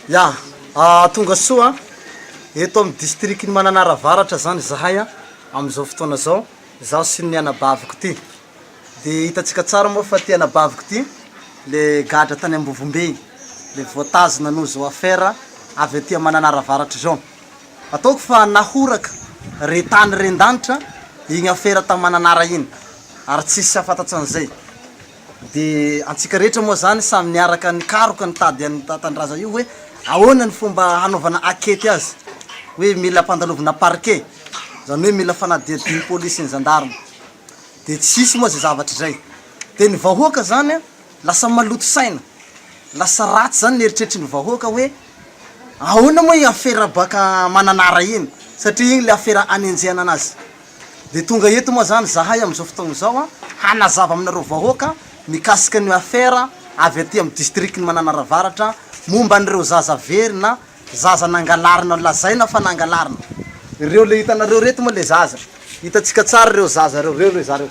Ya, tonga soa eto amin'ny distrikan'i Mananara Avaratra izany izahay amin'izao fotoana izao, izaho sy ny anabaviko ity. Dia hitantsika tsara moa fa ity anabaviko ity, ilay gadra tany Ambovombe iny, ilay voatazona hanao izao affaire avy aty Mananara Avaratra izao. Ataoko fa nahoraka re tany re an-danitra iny affaire tany Mananara iny, ary tsy hisy hahafantatsa an'izay. Dia antsika rehetra moa zany samy niaraka nikaroka nitady an'io Tantandraza io hoe ahoana ny fomba hanaovana ankety azy, hoe mila ampandalovina parquet, zany hoe mila fanadihadian'ny police sy ny gendarme, dia tsy hisy moa zay zavatra izay, dia ny vahoaka zany lasa maloto saina, lasa ratsy zany ny eritreritry ny vahoaka hoe ahoana moa iny afera baka Mananara iny satria iny le afera anenjehana anazy. Dia tonga eto moa zany zahay amin'izao fotoagna izao an, hanazava aminareo vahoaka mikasika an'io affaire avy aty amin'ny distrikan'i Mananara Avaratra momba an'ireo zaza very na zaza nangalarina, lazaina fa nangalarina. Ireo le hitanareo reto moa le zaza, hitantsika tsara ireo zaza ireo, ireo le zareo.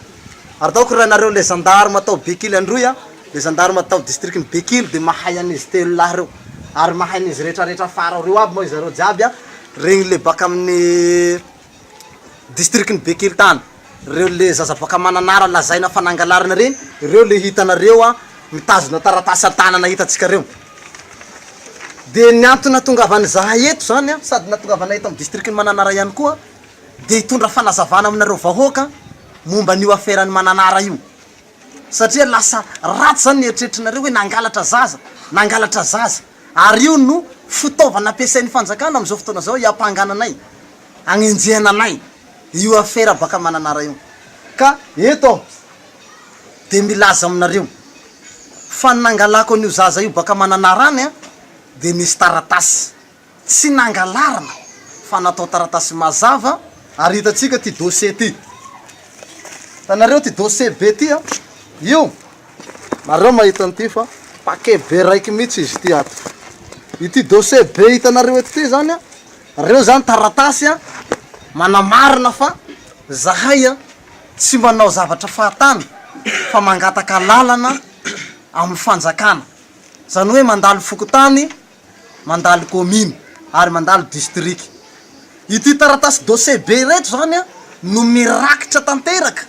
Ary ataoko raha nareo le gendarme tao Bekily androy an, le gendarme tao distrikan'i Bekily dia mahay an'izy telo lahy ireo, ary mahay an'izy retraretra afara ao reo aby moa zareo jiaby an, regny le baka amin'ny. distrikan'i Bekelitana, reo le zaza boaka Mananara lazaina fa nangalarina reny, reo le hitanareo an, mitazona taratasy an-tanana hitantsika reo. Dia ny antony nahatongavan'izahay eto zany an, sady nahatongavanay eto amin'ny distrikan'i Mananara ihany koa, dia hitondra fanazavana aminareo vahoaka momba an'io aferan'i Mananara io. satria lasa ratsy zany ny eritreritrinareo hoe nangalatra zaza, nangalatra zaza, ary io no fitaovana ampiasain'ny fanjakana amin'izao fotoana izao hiampangana anay, hagnenjehana anay io afera baka Mananara io, ka eto aho dia milaza aminareo fa ny nangalako an'io zaza io baka Mananara any dia nisy taratasy. Tsy nangalarina fa natao taratasy mazava ary hitantsika ty dossier ty. Hitanareo ty dossier be ty an! Io, nareo mahita an'ity fa paquet be raiky mihitsy izy ity ato. Ity dossier be hitanareo eto ty zany an, reo zany taratasy an, manamarina fa zahay an, tsy manao zavatra fahatany fa mangataka alalana amin'ny fanjakana. Zany hoe mandalo fokontany. mandalo kaomina ary mandalo distrika. Ity taratasy dossier be ireto izany no mirakitra tanteraka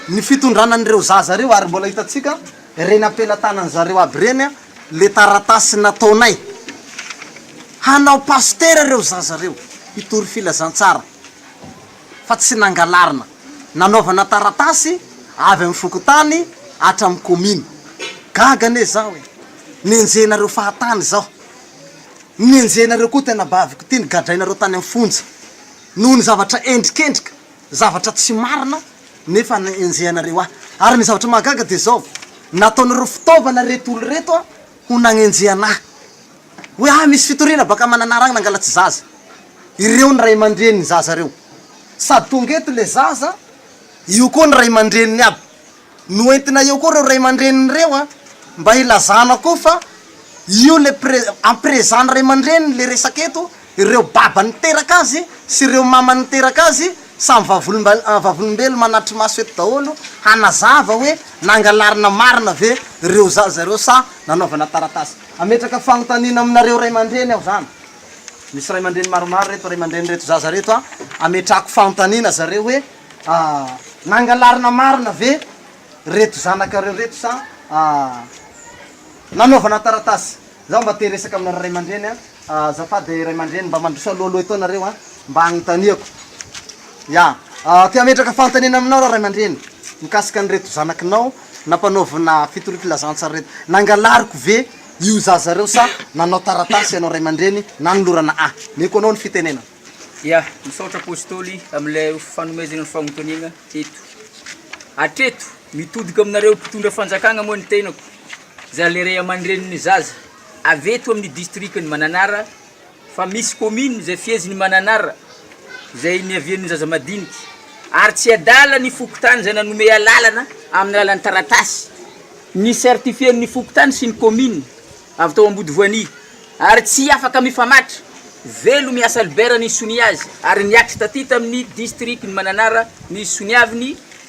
ny fitondrana an'ireo zaza ireo ary mbola hitantsika ireny am-pelatanan'ny zareo aby ireny ilay taratasy nataonay hanao pasitera ireo zaza ireo hitory filazantsara. fa tsy nangalarina, nanaovana taratasy avy amin'ny fokontany hatramin'ny komina. Gaga anie izaho e! Nenjehinareo fahatany izaho. Nenjehinareo koa tena baviko ity nogadrainareo tany amin'ny fonja noho ny zavatra endrikendrika, zavatra tsy marina nefa nenjehanareo ahy. Ary ny zavatra mahagaga dia izao, nataonareo fitaovana ireto olona ireto ho nanenjehana ahy. Hoe ah misy fitoriana baka Mananaragna nangala tsy zaza. Ireo ny ray mandreny ny zaza reo. Sady tonga eto le zaza, io koa ny ray mandreniny aby. Noentina eo koa reo ray mandreniny reo an, mba hilazana koa fa io le pre, en présent ny ray mandreniny le resaka eto, ireo baba niteraka azy sy ireo mama niteraka azy samy vavolomba, vavolombelo manatri-maso eto daholo hanazava hoe nangalarina marina ve reo zaza reo sa nanaovana taratasy. Hametraka fanontaniana aminareo ray aman-dreny aho zany. Misy ray aman-dreny maromaro reto ray aman-drenin'ireto zaza reto a. Hametrahako fanontaniana zareo hoe nangalarina marina ve reto zanakareo reto sa nanaovana taratasy. Zaho mba te hiresaka aminareo ray aman-dreny a. Azafady ray aman-dreny mba mandroso alohaloha eto nareo a. Mba hanontaniako. Ya. Te hametraka fanontaniana aminao raho ray aman-dreny mikasika an'ireto zanakinao Nampanaovina fitoriam-pilazantsaraireto. Nangalariko ve io zaza ireo sa nanao taratasy ianao ray aman-dreny nanolorana ahy? Meko anao ny fitenenana. Ya, misaotra Apostoly amin'ilay fanomezana ny fanontaniana eto. Hatreto, mitodika aminareo mpitondra fanjakana moa ny tenako, izany ilay ray aman-drenin'ny zaza avy eto amin'ny distrikan'i Mananara, fa misy commune izay fiheziny mananara izay niavian'ny zaza madinika ary tsy adala ny fokontany izay nanome alalana amin'ny alalan'ny taratasy ni certifier ny fokontany sy ny commune avy tao Ambodivoania ary tsy afaka mifamatra velo miasa libera ny sonia azy ary niatrika taty tamin'ny district ny mananara ny soniaviny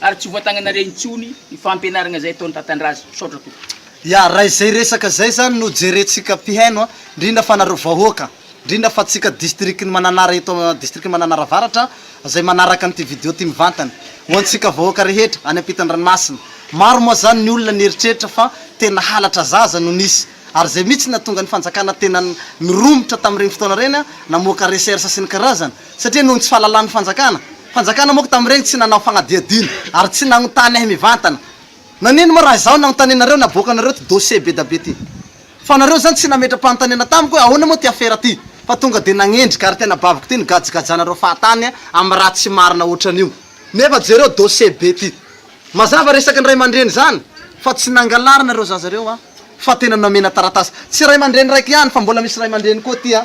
Ary tsy voatagnanareo intsony ny fampianaragna izay ataon'i Tatandraza. Misaotra tompoko. Ya, raha izay resaka izay zany no jerentsika mpihaino a, ndrindra fa nareo vahoaka, ndrindra fa tsika distrikan'i Mananara eto am distrikan'i Mananara Avaratra izay manaraka an'ity video ty mivantana, ho antsika vahoaka rehetra any ampitan-dranomasina. Maro moa zany ny olona nieritreritra fa tena halatra zaza no nisy, ary izay mihitsy nahatonga ny fanjakana tena niromotra tamin'ireny fotoana ireny a, namoaka recherche sy ny karazany, satria noho ny tsy fahalalan'ny fanjakana, fanjakana moa ko tamin'ireny tsy nanao fanadihadiana ary tsy nagnontany ahy mivantana, nanino moa raha izaho nagnontanianareo naboaka anareo ty dossier be da be ty? fa nareo zany tsy nametra-panontaniana tamiko hoe ahoana moa ty afera ty fa tonga de nagnendrika ary tena baviko ty nigajagajanareo fahatany amin'ny raha tsy marina otran'io nefa jereo dossier be ty mazava resaky ny ray aman-dreny zany fa tsy nangalarina ireo zaza ireo an fa tena nomena taratasy tsy ray aman-dreny raiky ihany fa mbola misy ray aman-dreny koa ty an.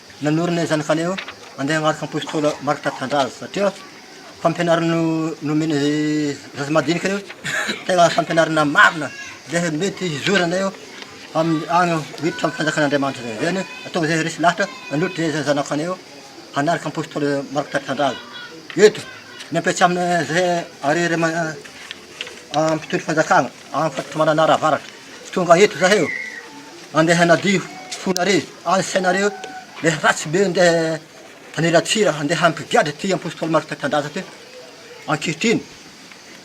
Nanorina izany fa aleo andeha hanaraka apostoly Marc Tantandraza satria fampianarana nomeny zaza madinika io tena fampianarana marina dia mety hizorana eo amin'ny any miditra amin'ny fanjakan'Andriamanitra zay zany ataovy zay resy lahatra nanohitra zay zay zanako anay eo hanaraka apostoly Marc Tantandraza eto ny ampiasaina zay ary mpitondra fanjakana Antakotry Mananara Avaratra, tonga eto zahay ô, andeha hanadio fonareo, any sainareo le ratsy be andeha haniratsira, andeha hampigadra ty Apostoly Marc Tanindrazana ty, ankehitriny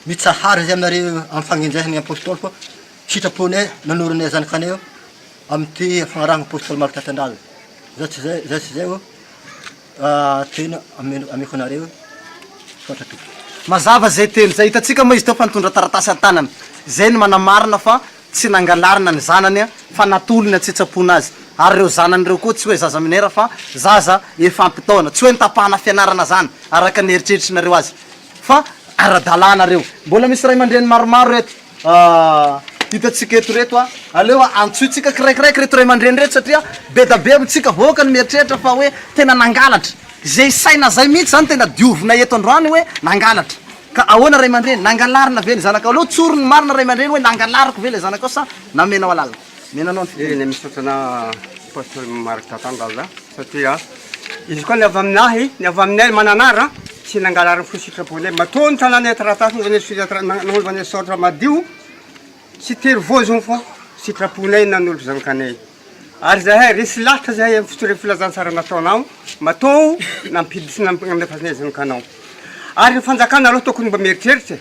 mitsahara zay aminareo amin'ny fagnenjehan'ny Apostoly fa sitraponay nanoronay zanakanay io, amin'ity fagnarahana Apostoly Marc Tanindrazana, zay tsy zay, zay tsy zay ô. Tena ameko anareo misaotra tompoko. Mazava zay teny zay, hitantsika moa izy teo fa nitondra taratasy an-tanana, zay no manamarina fa tsy nangalarina ny zanany fa natolony an-tsitsapona azy, ary ireo zanany ireo koa tsy hoe zaza minera fa zaza efa ampy taona, tsy hoe nitapahana fianarana zany araka ny eritreritrinareo azy fa ara-dalàna reo. Mbola misy ray aman-dreny maromaro eto. Ahh hitantsika eto reto a! aleo antsointsika kiraikiraiky reto ray aman-dreny reto satria bedabe amintsika vahoaka ny mieritreritra fa hoe tena nangalatra, izay saina zay mihitsy zany tena diovina eto androany hoe nangalatra, ka ahoana ray aman-dreny? nangalarina ve ny zanakao? aleo tsory ny marina ray aman-dreny hoe nangalariko ve ilay zanakao sa namenao alalana? Menanao ny fiteny. Eny misaotra anà Pasteur Marc Tatangaza satria izy koa ny avy amin'ahy, ny avy aminay Mananara tsy nangalary ny fo sitraponay matoa ny tanànay taratasy nanaovanay sonia tra- na- nanaovanay soratra madio tsy tery voazony fa sitraponay nanolo zanakanay ary zahay resy lahatra zahay amin'ny fitorian'ny filazantsara nataonao matoa nampiditra nampiandrasanay zanakanao ary ny fanjakana aloha tokony mba mieritreritra e.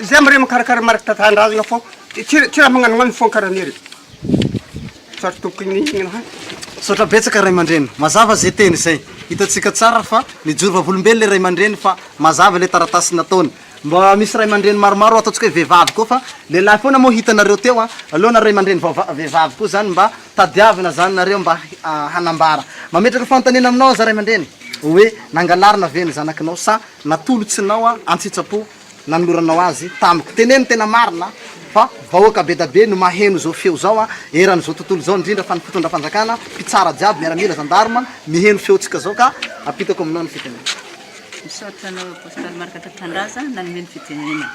Zay am re mikarakara mariky tatandrahagna fô ty ty raha magnano magnano fô kara nire sarotra tokony igny hany. Misaotra betsaka ray aman-dreny, mazava ze teny zay, hitantsika tsara fa mijoro vavolombelo le ray aman-dreny fa mazava le taratasy nataony, mba misy ray aman-dreny maromaro ataontsika hoe vehivavy koa fa lehilahy foana moa hitanareo teo an, aleo na ray aman-dreny vaova vehivavy koa zany mba tadiavina zany nareo mba hanambara, mametraka fanontaniana aminao aza ray aman-dreny hoe nangalarina ve ny zanakinao sa natolotsinao an-tsitsapo nanoloranao azy tamiko. Teneno tena marina fa vahoaka bedabe no maheno zao feo zao an, eran zao tontolo zao indrindra fa ny mpitondra fanjakana, mpitsara jiaby, miaramila, zandarma miheno feo tsika zao ka apitako aminao ny fitenenana. Misaotra anao Apostoly Marc Tatrandraza nanome ny fitenenana.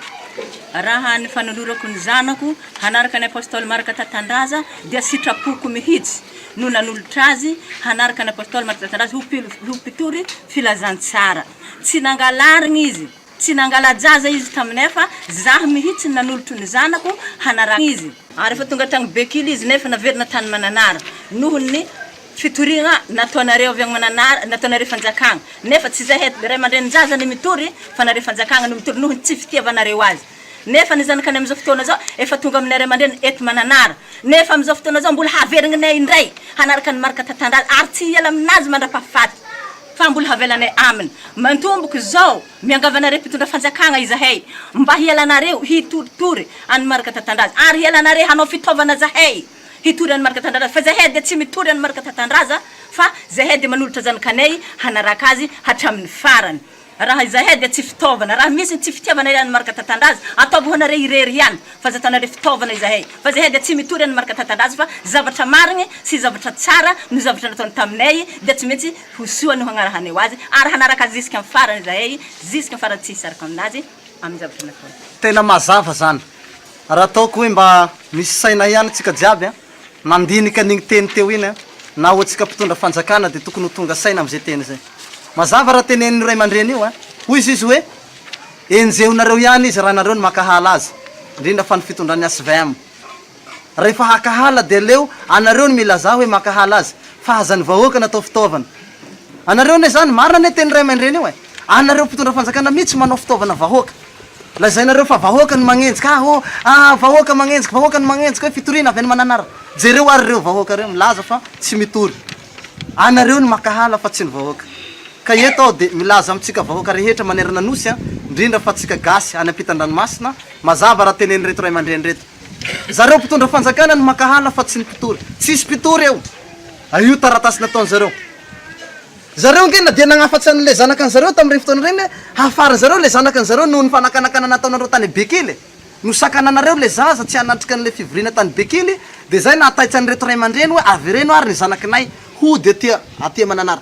Raha ny fanolorako ny zanako hanaraka an'i Apostoly Marc Tatandraza dia sitrapoko mihitsy no nanolotra azy hanaraka an'i Apostoly Marc Tatandraza ho mpitory filazantsara. Tsy nangalarigna izy. Tsy nangala-jaza izy taminay fa zaho mihitsy no nanolotro ny zanako hanaraka izy. Ary efa tonga tany Bekily izy nefa naverina tany Mananara noho ny fitoriagna nataonareo avy any Mananara, nataonareo fanjakagna. Nefa tsy zahay ray aman-drenin-jaza no mitory fa nareo fanjakagna no mitory noho ny tsy fitiavanareo azy. Nefa ny zanakany amin'izao fotoana izao efa tonga aminay ray aman-dreniny eto Mananara. Nefa amin'izao fotoana izao mbola haverigninay indray hanaraka ny marika tantandraza ary tsy hiala aminazy mandra-pahafaty. Fa mbola havelanay aminy mantomboka izao miangavanareo mpitondra fanjakagna izahay mba hialanareo hitoritory an'i Marc Tatandraza ary hialanareo hanao fitaovana zahay hitory an'i Marc Tandraza fa zahay dia tsy mitory an'i Marc Tatandraza fa zahay dia manolotra zanakanay hanaraka azy hatramin'ny farany raha izahay dia tsy fitaovana raha misy ny tsy fitiavanareo an'i Marc Tatandraza ataovy ho anareo irery ihany Fanjatana le fitaovana izahay fa izahay dia tsy mitory any marika tantandrazo fa zavatra marigny sy zavatra tsara no zavatra nataony taminay dia tsy maintsy ho soa no hagnarahanay ho azy ary hanaraka azy ziskany farany izahay ziskany farany tsy hisaraka aminazy aminy zavatra nataony. Tena mazava zany. Raha ataoko hoe mba misy saina ihany tsika jiaby an, mandinika an'igny teny teo iny an, na ho antsika mpitondra fanjakana dia tokony ho tonga saina am'zay teny zay. Mazava raha tenenin'io ray aman-dreny io an, hoy izy izy hoe, Enjehinareo ihany izy raha nareo no makahala azy, indrindra fa ny fitondran'ny svm. Rehefa hakahala dia aleo anareo no milazà hoe makahala azy fa aza ny vahoaka no atao fitaovana. Anareo anie izany, marina anie teny Raiamandreny io e! Anareo mpitondra fanjakana mitsy manao fitaovana vahoaka. Lazainareo fa vahoaka no magnenjika, ah oh, ah vahoaka magnenjika, vahoaka no magnenjika hoe fitoriana avy any Mananara. Jereo ary ireo vahoaka ireo milaza fa tsy mitory. Anareo no makahala fa tsy ny vahoaka. Ka eto aho dia milaza amintsika vahoaka rehetra manerana Nosy, indrindra fa tsika gasy any ampitan-dranomasina, mazava raha tenen'ireto ray aman-dreny ireto. Zareo mpitondra fanjakana no mankahala fa tsy ny mpitory. Tsisy mpitory eo. A io taratasy nataony zareo. Zareo ange na dia nagnafatsy an'ilay zanakan zareo tamin'ireny fotoana ireny hoe hafarin zareo ilay zanakan zareo nohon'ny fanakanakana nataonareo tany Bekily. Nosakananareo ilay zaza tsy hanatrika an'ilay fivoriana tany Bekily dia zay nahataitsan'ireto ray aman-dreny hoe avereno ary ny zanakinay hody aty aty Mananara.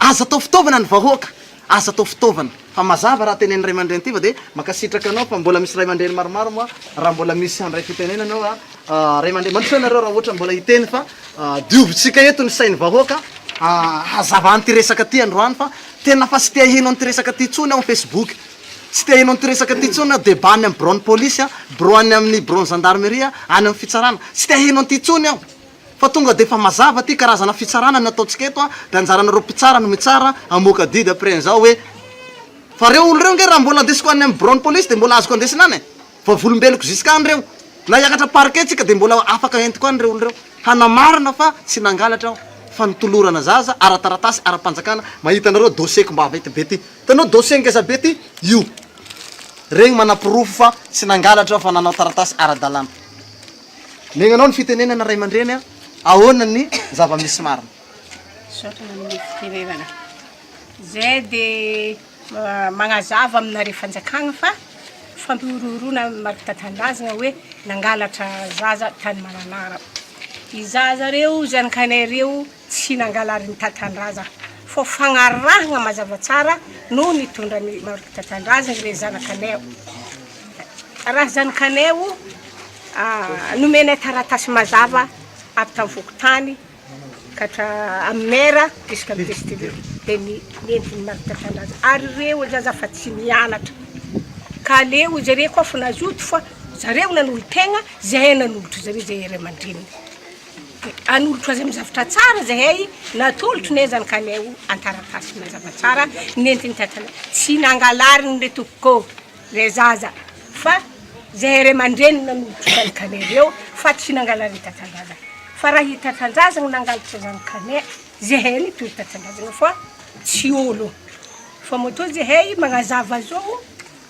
Aza atao fitaovana ny vahoaka, aza atao fitaovana. Fa mazava raha tenenin'ny ray aman-dreny Tiva dia mankasitraka anao fa mbola misy ray aman-dreny maromaro moa raha mbola misy handray fitenenana eo a ray aman-dreny. Mandrosoa ianareo raha ohatra mbola hiteny fa diovitsika eto ny sain'ny vahoaka hazava an'ity resaka ity androany fa tena fa tsy te haheno an'ity resaka ity intsony aho ny facebook. Tsy te haheno an'ity resaka ity intsony aho, debat any amin'ny biraon'ny polisy, birao any amin'ny biraon'ny zandarmeria, any amin'ny fitsarana. Tsy te haheno an'ity intsony aho. Fa tonga dia efa mazava ity karazana fitsarana ny ataontsika eto a, dia anjaranareo mpitsara no mitsara, hamoaka didy après an'izao hoe, fa reo olo reo nge raha mbola andesiko any amin'ny biraon'ny polisy dia mbola azoko andesina any e, vavolombeloko jusqu'any reo, na hiakatra parquet tsika dia mbola afaka entiko any reo olo reo, hanamarina fa tsy nangalatra aho, fa nitolorana zaza ara-taratasy ara-panjakana, mahita anareo dossier-ko mavety be ty, hitanao dossier ngeza be ty? io, regny manaporofo fa tsy nangalatra aho fa nanao taratasy ara-dalàna. Miaigna anao ny fitenenana ray aman-dreny a! Ahoana ny zava-misy marina? Misaotra nanomboka fitenenana. Zay dia magnazava aminareo fanjakagna fa fampihorohoroana marika tanindrazagna hoe nangalatra zaza tany Mananara. I zaza reo, zanakanay reo Tsy nangalarin'i Tatandraza fa fagnarahagna mazava tsara no nitondran'i Marc Tatandraza ireo zanakanay ao. Raha zanakanay o, nomenay taratasy mazava avy tamin'ny fokontany ka hatra amin'ny maire jusqu'à ny PCTV dia ny nentin'i Marc Tatandraza ary ireo hoy za za fa tsy mianatra ka aleo hoy zareo koa fa nazoto fa zareo nanolotena zahay nanolotra zareo zahay ray aman-dreniny. Hanolotra azy amin'ny zavatra tsara izahay, natolotry ny ezany ka aleo an-taratasy mazava tsara ny entiny tantana. Tsy nangalariny ry tompoko ilay zaza fa izahay ray aman-dreniny nanolotra izany kane ireo fa tsy nangalariny tantandrazana. Fa raha i tantandrazana no nangalatra izany kane, izahay no hitory tantandrazana fa tsy olo. Fa matoa izahay manazava izao.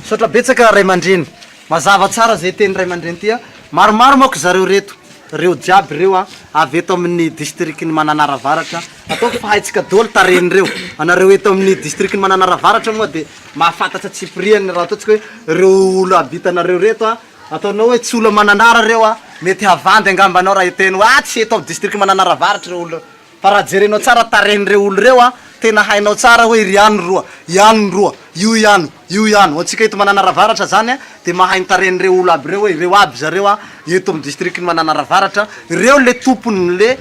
Misaotra betsaka ray mandreny. Mazava tsara zay teny ray mandreny ty a. Maromaro manko zareo reto. Reo jiaby reo a avy eto amin'ny district ny Mananara Avaratra. Ataovy fa haintsika doly tarehin'ireo. Anareo eto amin'ny district ny Mananara Avaratra moa de mahafantatra tsipiriany raha ataontsika hoe reo olo habitanareo reto a. Ataonao hoe tsy olo Mananara reo a. Mety havandy angamba anao raha hiteny hoe ah tsy eto amin'ny district Mananara Avaratra reo olo reo. Fa raha jerenao tsara tarehin'ireo olo ireo an, tena hainao tsara hoe iry ihany roa, ihany ny roa, io ihany, io ihany. Ho antsika eto Mananara Avaratra zany an, dia mahay ny tarehin'ireo olo aby ireo hoe ireo aby zareo an, eto amin'ny distrikan'i Mananara Avaratra, ireo le tompon'le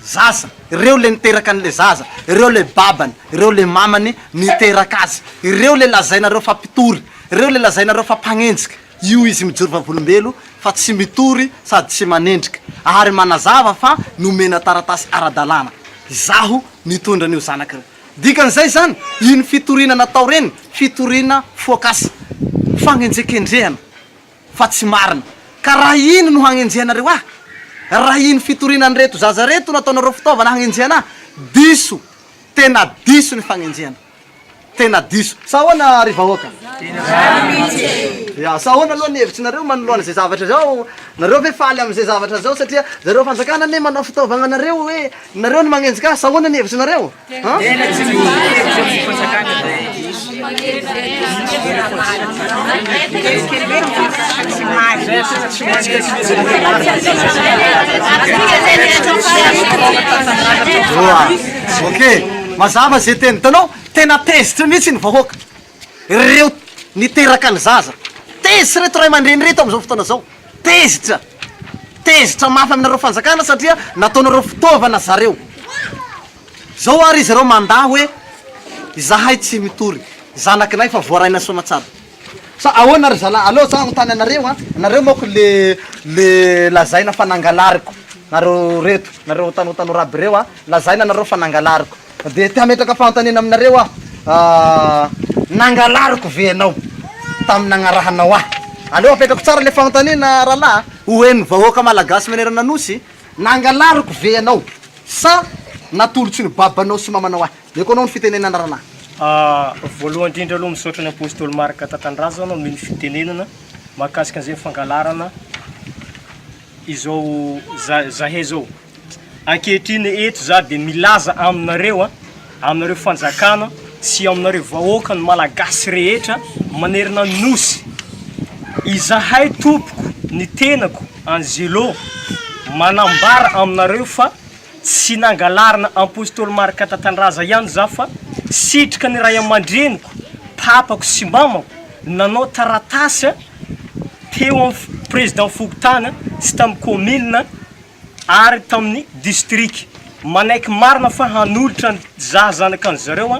zaza, ireo le niteraka an'le zaza, ireo le babany, ireo le mamany niteraka azy, ireo le lazainareo fa mpitory, ireo le lazainareo fa mpanenjika. Io izy mijoro vavolombelo fa tsy mitory sady tsy manendrika ary manazava fa nomena taratasy ara-dalàna izaho nitondra an'io zanaka io. Dikan'izay izany, iny fitoriana natao ireny, fitoriana foakasa, fagnenjekendrehana fa tsy marina. Ka raha iny no hagnenjehanareo ahy, raha iny fitoriana an'ireto zaza ireto no ataonareo fitaovana hagnenjehana ahy, diso, tena diso ny fagnenjehana. Tena diso. Sa ahoana ry vahoaka? Izany mihitsy e! Ya, sa ahoana aloha ny hevitsinareo manoloana izay zavatra izao? Nareo ve faly amin'izay zavatra izao satria zareo fanjakana anie manao fitaovagna anareo hoe nareo no magnenjika azy? Sa ahoana ny hevitsinareo? An? Tena tsy misy hevitra ny fanjakana izay. Oa, ok. Mazava ze teny tanao, tena tezitra mihitsy ny vahoaka, reo niteraka ny zaza, tezitra reto ray aman-dreny reto amzao fotoana zao, tezitra, tezitra mafy aminareo fanjakana satria nataonareo fitaovana zareo, zao ary izy reo mandà hoe izahay tsy mitory, zanakinay fa voarainay soamatsara. Sa ahoana ry zalahy? Aleo za hanontany anareo an! Nareo manko le le lazaina fa nangalariko nareo reto, nareo tano tano raby reo an! Lazaina nareo fa nangalariko, de te hametraka fanontaniana aminareo aho an! Nangalariko ve ianao tamin'ny nagnarahanao ahy? Aleo apetrako tsara le fanontaniana rahalahy an! Ho henon'ny vahoaka malagasy manerana Nosy, nangalariko ve ianao sa natolotry ny babanao sy mamanao ahy? Meko anao ny fitenenana ranah. Ahh voalohany indrindra aloha misaotra ny Apostoly Marc Tatandrazana omeo ny fitenenana mahakasika an'izay fangalarana izao zahay zao. Ankehitriny eto za de milaza aminareo a, aminareo fanjakana sy aminareo vahoaka ny malagasy rehetra manerana ny nosy, izahay tompoko ny tenako Angelo manambara aminareo fa. Tsy nangalarina Apostoly Marka Tatandraza ihany izaho fa sitrika ny ray aman-dreniko, papako sy mamako nanao taratasy teo amin'ny Président Fokontany sy tamin'ny Kaominina ary tamin'ny Distrika manaiky marina fa hanolotra ny zaza zanakan'izareo.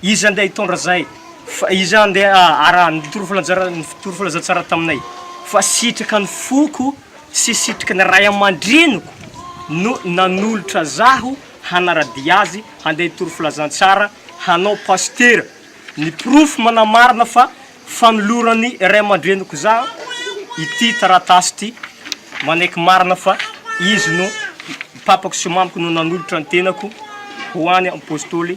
Iza andeha hitondra izay? Fa iza andeha araha ny tory filazantsara taminay? Fa sitraka ny foko sy sitraka ny ray aman-dreniko no nanolotra zaho hanara-dia azy handeha hitory filazantsara hanao pasitera. Ny porofo manamarina fa fanoloran'ny ray aman-dreniko zaho ity taratasy ity manaiky marina fa izy no, papako sy mamako no nanolotra ny tenako ho an'ny Apôstôly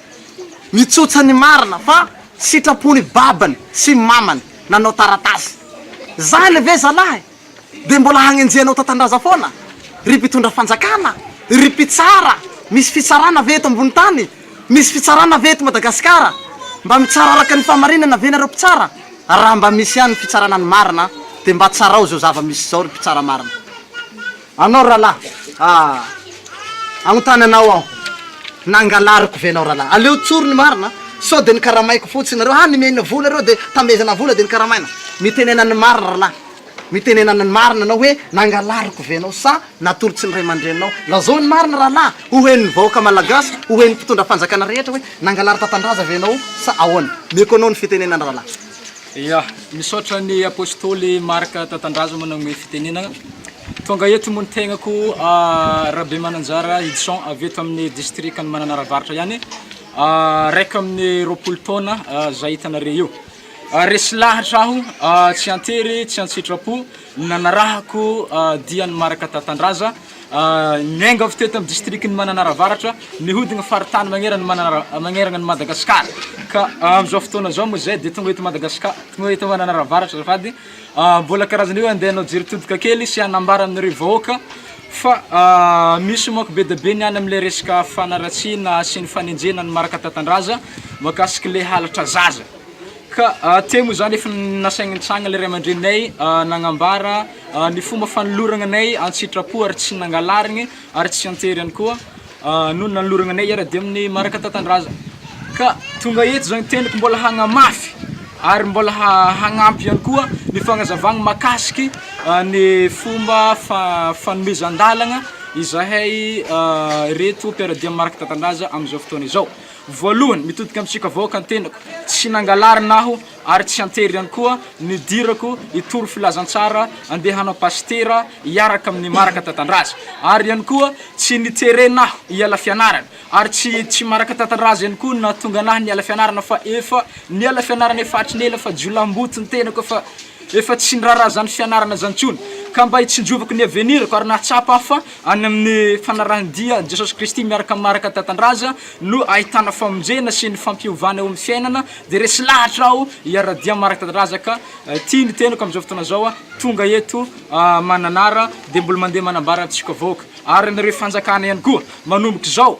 Nitsotsa ny marina fa sitrapon'i babany sy mamany nanao taratasy. Zany ve zalahy dia mbola hagnenjehanao tatandraza foana? Ry mpitondra fanjakana, ry mpitsara, misy fitsarana ve eto ambony tany? Misy fitsarana ve eto Madagasikara? Mba mitsara araka ny fahamarinana ve nareo mpitsara? Raha mba misy ihany ny fitsarana ny marina dia mba tsarao izao zava-misy izao ry mpitsara marina. Anao ralah ah agnontany anao aho nangalariko ve anao ralah aleo tsory ny marina sao de ny karamaiko fotsiny nareo ha nimena vola reo de tamezana vola de ny karamaina mitenena ny marina ralah mitenena ny marina anao hoe nangalariko ve anao sa natory tsy ny ray aman-dreninao lazao ny marina ralah ho hen'ny vahoaka malagasy ho hen'ny mpitondra fanjakana rehetra hoe nangalary tatandraza ve anao sa ahoana meko anao ny fitenenana ralah. Ia, misaotra ny Apostoly Marc Tatandrazoma nagnomey fitenenana. Tonga eto moa ny tegnako Rabemananjara Hidson avy eto amin'ny distrikan'i Mananara Avaratra ihany, raika amby roapolo taona zay hitanareo io. Resy lahatra aho, tsy an-tery, tsy an-tsitrapo. Ny nanarahako dia ny Marc Tatandraza, miainga teto amin'ny distrikan'i Mananara Avaratra, mihodina faritany magneran' ny Mananara magnerana an'i Madagasikara ka amin'izao fotoana izao moa izay dia tonga eto Madagasikara tonga eto Mananara Avaratra azafady mbola karazana io andeha hanao jery todika kely sy hanambara aminareo vahoaka fa misy manko be dia be ny any amin'ilay resaka fanaratsiana sy ny fanenjehana ny Marc Tatandraza mahakasika ilay halatra zaza. Ka hatreto moa izany efa nasaintsaigna ilay ray aman-dreninay nagnambara ny fomba fanolorana anay an-tsitrapo ary tsy nangalariny ary tsy an-tery ihany koa no nanolorana anay hiara-dia amin'ny maraka tantan-drazana. Ka tonga eto izao ny tenako mbola hagnamafy ary mbola ha- hagnampy ihany koa ny fagnazavana mahakasiky ny fomba fa- fanomezan-dalagna izahay ireto mpiara-dia amin'ny maraka tantan-drazana amin'izao fotoana izao. Voalohany, mitodika amin'ny tsiaka vahoaka ny tenako, tsy nangalarina aho ary tsy an-tery ihany koa nidirako hitory filazantsara handeha hanao pasitera hiaraka amin'ny Maraka Tatandraza. Ary ihany koa tsy niterena aho hiala fianarana ary tsy tsy Maraka Tatandraza ihany koa no nahatonga anahy niala fianarana fa efa niala fianarana efa hatry ny ela fa jiolahimboto ny tenako efa Efa tsy niraharaha izany fianarana izany intsony, ka mba hitsinjovako ny avenirako ary nahatsapa aho fa any amin'ny fanarahan-dia an'i Jesosy Kristy miaraka amin'ny Marika Tantandraza no ahitana famonjena sy ny fampihovana eo amin'ny fiainana, dia resy lahatra aho hiara-dia amin'ny Marika Tantandraza ka ity ny teniko amin'izao fotoana izao, tonga eto Mananara dia mbola mandeha manambara antsika vahoaka ary anareo fanjakana ihany koa manomboka izao.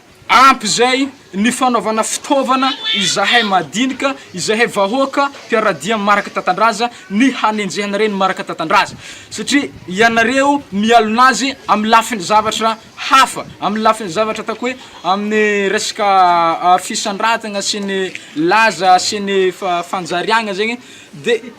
Ampy izay ny fanaovana fitaovana izahay madinika, izahay vahoaka mpiara-dia maraka tantandraza ny hanenjehana ireny maraka tantandraza satria ianareo mialona azy amin'ny lafiny zavatra hafa, amin'ny lafiny zavatra ataoko hoe amin'ny resaka fisandratana sy ny laza sy ny fanjariagna zegny de.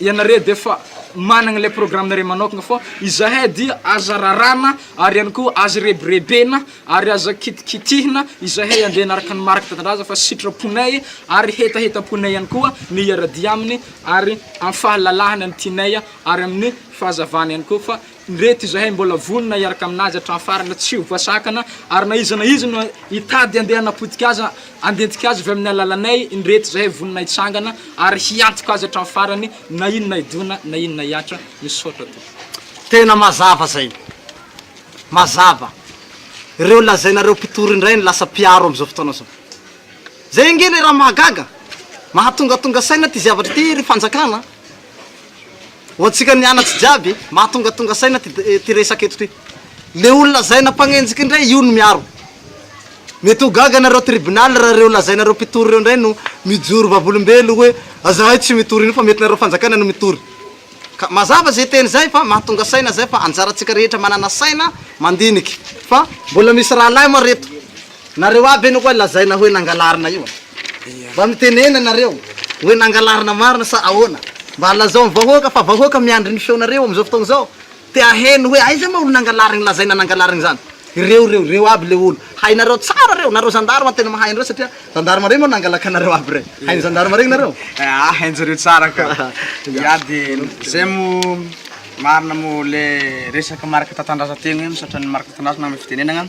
ianareo dia efa managna ilay programme-nareo manokana fô izahay dia aza raràna ary ihany koa aza rebirebena ary aza kitikitihina izahay andeha hanaraka ny mariky tanindrazagna fa sitraponay ary hetahetam-ponay ihany koa ny hiara-dia aminy ary amin'ny fahalalahana ny tianay ary amin'ny fahazavana ihany koa fa Ireto izahay mbola vonona hiaraka amin'azy hatramin'ny farany tsy ho voasakana ary na iza na iza no hitady handeha hanapotika azy handentika azy avy amin'ny alalanay ireto izahay vonona hitsangana ary hiantoka azy hatramin'ny farany na inona hidona na inona hihatra misaotra tompoko. Tena mazava zay. Mazava. Ireo lazainareo mpitory indray no lasa mpiaro amin'izao fotoana izao. Zay ange le raha mahagaga. Mahatongatonga saina ty zavatra ty ry fanjakana a. Ho antsika nianatry jiaby, mahatongatonga saina ty ty resaka eto ty. Le olo lazaina mpanenjika indray io no miaro. Mety ho gaga nareo tribunal raha reo lazainareo mpitory reo ndray no mijoro vavolombelo hoe azahay tsy mitory an'io fa mety nareo fanjakana no mitory. Ka mazava zay teny zay fa mahatonga saina zay fa anjarantsika rehetra manana saina mandiniky fa mbola misy rahalahy moa reto. Nareo aby anie koa lazaina hoe nangalarina io an! Mba mitenena nareo hoe nangalarina marina sa ahoana? Mba lazao ny vahoaka fa vahoaka miandry ny feonareo amin'izao fotoana izao, te haheno hoe aiza moa olo nangalarigny lazaina nangalarigny zany? Ireo reo, reo aby le olo, hainareo tsara reo, nareo zandary tena mahay an'ireo satria zandary reo moa nangalakanareo aby rey, hain'ny zandary regny nareo? Aa hainjareo tsara ka! Ya de zay moa marina moa le resaka maraka tantandraza tegna io satria ny maraka tantandraza na ny fitenenagna.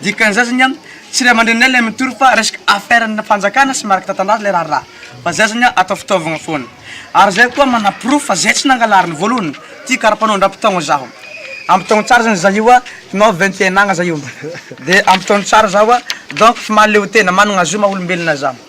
Dikan'izay zany an, tsy ray aman-dreninay ilay mitory fa resaka affaire ana fanjakana sy mariky tantandrazana ilay raharaha fa zay zany an atao fitaovagna foana. Ary zay koa manaporofo fa zay tsy nangalariny voalohany ty karapanao ndrampitaogna zaho. Ampitaogno tsara zany za io an, nao vingt et un ans za io de ampitaogno tsara zaho an, donc fa mahaleo tena, managna zo maha olombelogna zaho.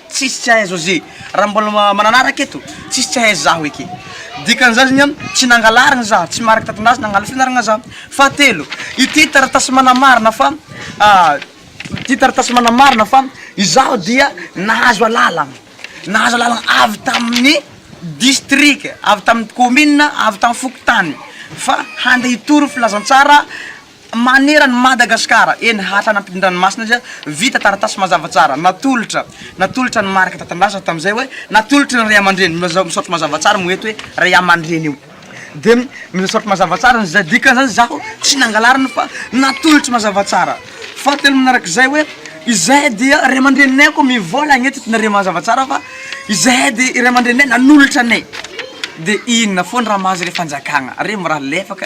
Tsisy tsy hahay José, raha mbola mananaraka eto, tsisy tsy hahay zaho eky. Dikan'izany zany an, tsy nangalarigny za, tsy mariky tatindraza nangala fianaragna za. Fahatelo, ity taratasy manamarina fa ity taratasy manamarina fa izaho dia nahazo alalagna, nahazo alalagna avy tamin'ny distrika, avy tamin'ny kaominina, avy tamin'ny fokontany fa hande hitory filazantsara. Maneran'i Madagasikara, eny hatrany ampitan-dranomasina izay, vita taratasy mazava tsara, natolotra, natolotra ny marika tantandraza tamin'izay hoe, natolotry ny ray aman-dreny, mila misaotra mazava tsara moa eto hoe ray aman-dreny io, dia misaotra mazava tsara ny izay, dikan'izany izaho tsy nangalarina fa natolotry mazava tsara, fahatelo manarak'izay hoe, izahay dia ray aman-dreninay koa mivola agn'eto dia nareo mazava tsara fa izahay dia ray aman-dreninay nanolotra anay, dia inona foana raha mahazo ilay fanjakana, re mirary lefaka.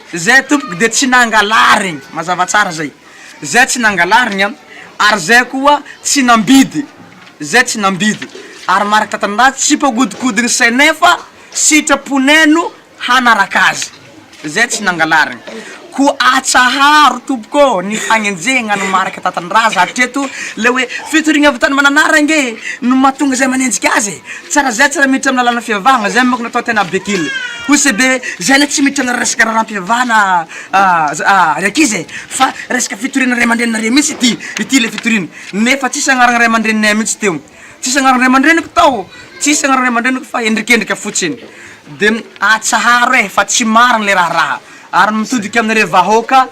Zay tompoko de tsy nangalarigny, mazava tsara zay, zay tsy nangalarigny an, ary zay koa tsy nambidy, zay tsy nambidy, ary maraka tanindrazana tsy mpagodikodigny saigny nefa sitraponay no hanaraka azy, zay tsy nangalarigny, koa atsaharo tompoko ô ny fagnenjehagna ny maraka tatandraza hatreto, le hoe fitoriagna avy tany mananara ange no mahatonga zay manenjika azy e, tsara zay tsara miditra amin'ny lalana fivavahagna, zay manko no atao tena bekily. OCB, Zay ilay tsy miditra an'ilay resaka raharaham-pivavahana ry ankizy e! Fa resaka fitoriana ray aman-dreninareo mihitsy ity, ity ilay fitoriana. Nefa tsisy agnaran'ny ray aman-dreninay mihitsy teo. Tsisy agnaran'ny ray aman-dreniko tao, tsisy agnaran'ny ray aman-dreniko fa endrikendrika fotsiny. De atsaharo e fa tsy marina ilay raharaha ary mitodika aminareo vahoaka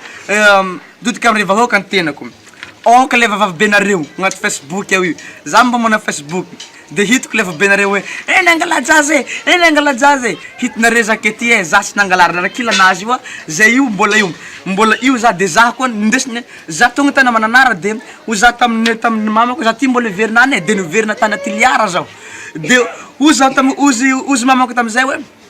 mitodika aminareo vahoaka ny tenako. Ohatra le vavavabenareo agnaty facebook ao io, za mba mana facebook de hitako le vavavabenareo hoe eh nangala jazz eh, eh nangala jazz eh, hitanareo za aketo eh za tsy nangala ary narakila anazy io a, zay io mbola io mbola io za de za koa nindesiny hoe za tonga tany mananara de hoy za taminy taminy mamako za ty mbola hiverina any eh de niverina tany tiliara zaho de hoy za tam- hoy izy hoy izy mamako tamizay hoe.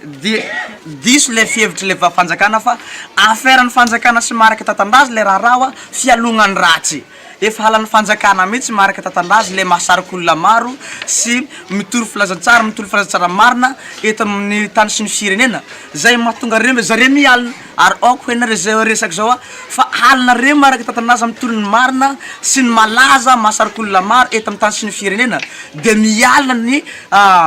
Dia diso ilay fihevitry ilay vavfanjakana fa affaire ny fanjakana sy marika tatandraza ilay raharaha hoa fialogna ny ratsy. Efa halan'ny fanjakana mihitsy marika tatandraza ilay mahasarika olona maro sy mitory filazantsara mitory filazantsara marina eto amin'ny tany sy ny firenena. Zay mahatonga reo zareo mialona ary aoka hoe nareo zay resaka zao hoa fa alona reo marika tatandraza mitory ny marina sy ny malaza mahasarika olona maro eto amin'ny tany sy ny firenena dia mialona ny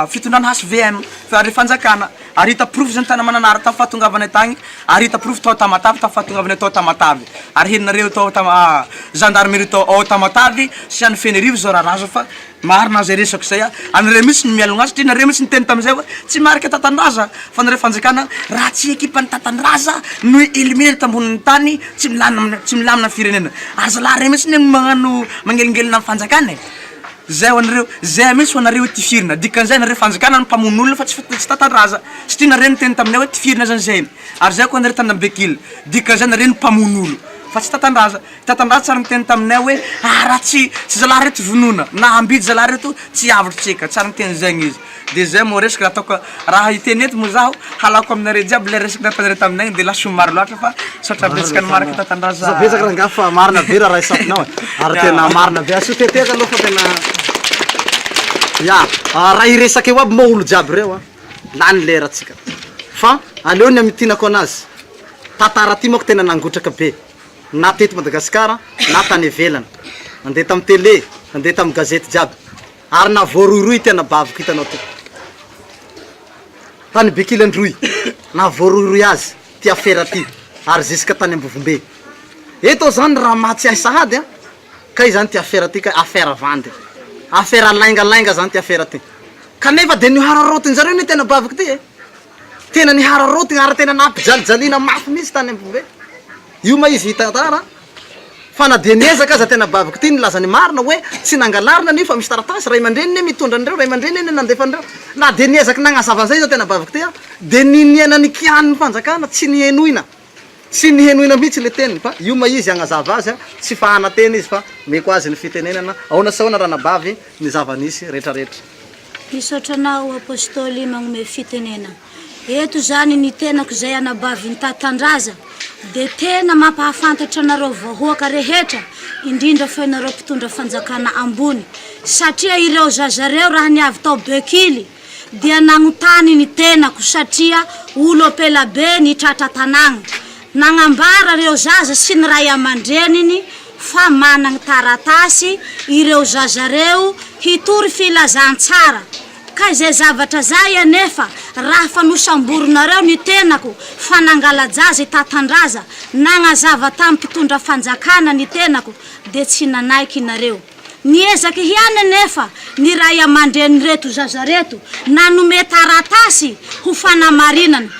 fitondrana hvm. Fary ny fanjakana. Ary hita porofo izany tany Mananara tamin'ny fahatongavanay tany, ary hita porofo tao Tamatave tamin'ny fahatongavanay tao Tamatave. Ary henonareo eto ao Tama, gendarmerie tao ao Tamatave sy any Fenerivo izao raharaha izao fa marina izay resako izay a. Anareo mihitsy no mialogna azy satria nareo mihitsy niteny tamin'izay hoe tsy marika Tatandraza fa nareo fanjakana raha tsy ekipan'i Tatandraza no eliminer eto ambonin'ny tany tsy milamina, tsy milamina ny firenena. Ary zalahy ireo mihitsy anie no magnano, magnelingelina ny fanjakana e. Zay ho anareo Zay ameso ho anareo hoe tifirina dikan'izay nareo fanjakana no mpamono olona fa tsy tsy tantandraza satria nareo niteny taminay hoe tifirina zany zay ary zay ko anareo tanambe kila dikan'izay nareo no mpamono olo fa tsy tantandraza tantandraza tsy ary niteny taminay hoe ah raha tsy tsy zalahy reto vonona na ambidy zalahy reto tsy avotry tsika tsy ary niteny zegny izy Dia zay moa resaka ataoko raha hiteny eto moa zaho halako aminareo jiaby ilay resaka nataonareo taminay dia lasa maro loatra fa saotra betsaka ny manaraka tantandraza. Saotra betsaka rangahy fa marina be raha raisafinao e. Ary tena marina be. Asio teteka aloha fa tena Ya, raha hiresaka eo aby moa olo jiaby reo a, lany lera tsika. Fa aleo ny hamitinako anazy. Tantara ty manko tena nangotraka be. Na teto Madagasikara na tany ivelany. Nandeha tamin'ny tele, nandeha tamin'ny gazety jiaby. Ary na voarohirohy ity anabaviko hitanao ity tany Bekily Androy, na voarohirohy azy ity afera ity ary ziska tany Ambovombe. Eto aho zany raha maha tsy hay sahady an, kay zany ity afera ity kay, afera vandy, afera laingalainga zany ity afera ity. Kanefa dia nihararaotin zareo anie ity anabaviko ity e! Tena nihararaotina ary tena nampijalijaliana mafy mihitsy tany Ambovombe. Io ma izy hitantara an! Fa na dia niezaka aza tena baviko ity nilaza ny marina hoe tsy nangalarina anio fa misy taratasy ray aman-dreniny anie mitondra an'ireo ray aman-dreniny anie nandefa an'ireo na dia niezaka nagnazava an'izay izao tena baviko ity aho dia ny niaina ny kianin'ny fanjakana tsy nihenoina tsy nihenoina mihitsy ilay teniny fa io ma izy hagnazava azy a tsy fahana teny izy fa meko azy ny fitenenana aona sy aona ranabavy ny zava-nisy retraretra. Misaotra anao Apostoly magnome fitenenana. Eto izany ny tenako izay anabavin'i Tatandraza dia tena mampahafantatra anareo vahoaka rehetra indrindra fa ianareo mpitondra fanjakana ambony satria ireo zazareo raha ny avy tao Bekily dia nanontany ny tenako satria olo ampela be ny tratra tanàgna nagnambara ireo zaza sy ny ray aman-dreniny fa managny taratasy ireo zazareo hitory filazantsara Ka izay zavatra zay anefa raha fa nosamborinareo ny tenako fa nangala-jaza i Tatandraza, nagnazava tamin'ny mpitondra fanjakana ny tenako dia tsy nanaiky inareo. Niezaka ihany anefa ny ray aman-drenin'ireto zaza reto nanome taratasy ho fanamarinana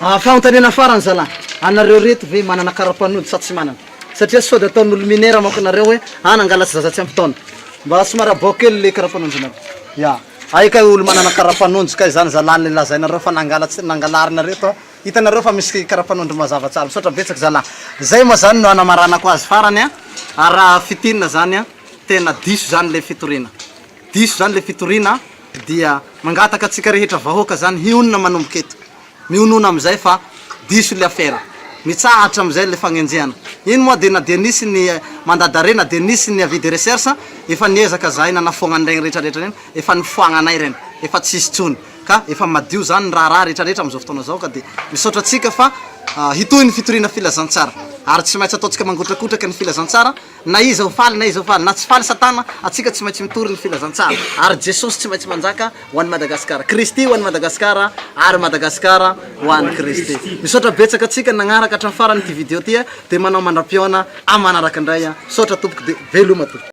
Ah fanontaniana farany zalah, anareo reto ve manana karapanody sa tsy manana? satria sode ataon'olo minera manko nareo hoe ah nangalatsy zaza tsy ampy taona, mba somary abao kely le karapanondinareo ya hay kay olo manana karapanondro kay zany zalah le lazainareo fa nangalatsy nangalarinareo to hitanareo fa misy karapanondro mazava tsara, misaotra betsaka zalah zay moa zany no anamaranako azy farany ah raha fitinina zany ah tena diso zany le fitoriana diso zany le fitoriana dia mangataka antsika rehetra vahoaka zany hionona manomboka eto. Mihonona amin'izay fa diso ilay afera. Mitsahatra hatramin'izay ilay fagnenjehana. Iny moa dia na dia nisy ny mandat d'arrêt na dia nisy ny avis de recherche, efa niezaka zahay nanafoagna an'iregny retraretra regny, efa nifoagna anay regny, efa tsisy tsony. Ka efa madio zany ny raharaha retraretra amin'izao fotoana izao ka dia misaotra antsika fa hitohy ny fitoriana filazantsara. Ary tsy maintsy ataontsika mangotrakotraka ny filazantsara Na iza ho faly na iza ho faly na tsy faly satana atsika tsy maintsy mitory ny filazantsara ary jesosy tsy maintsy manjaka ho an'i Madagascar Kristy ho an'i Madagascar ary Madagascar ho an'i Kristy misaotra betsaka atsika nagnaraka hatramin'ny farany ity video ity dia manao mandram-pihaona amanaraka indray misaotra tompoko dia veloma tompoko.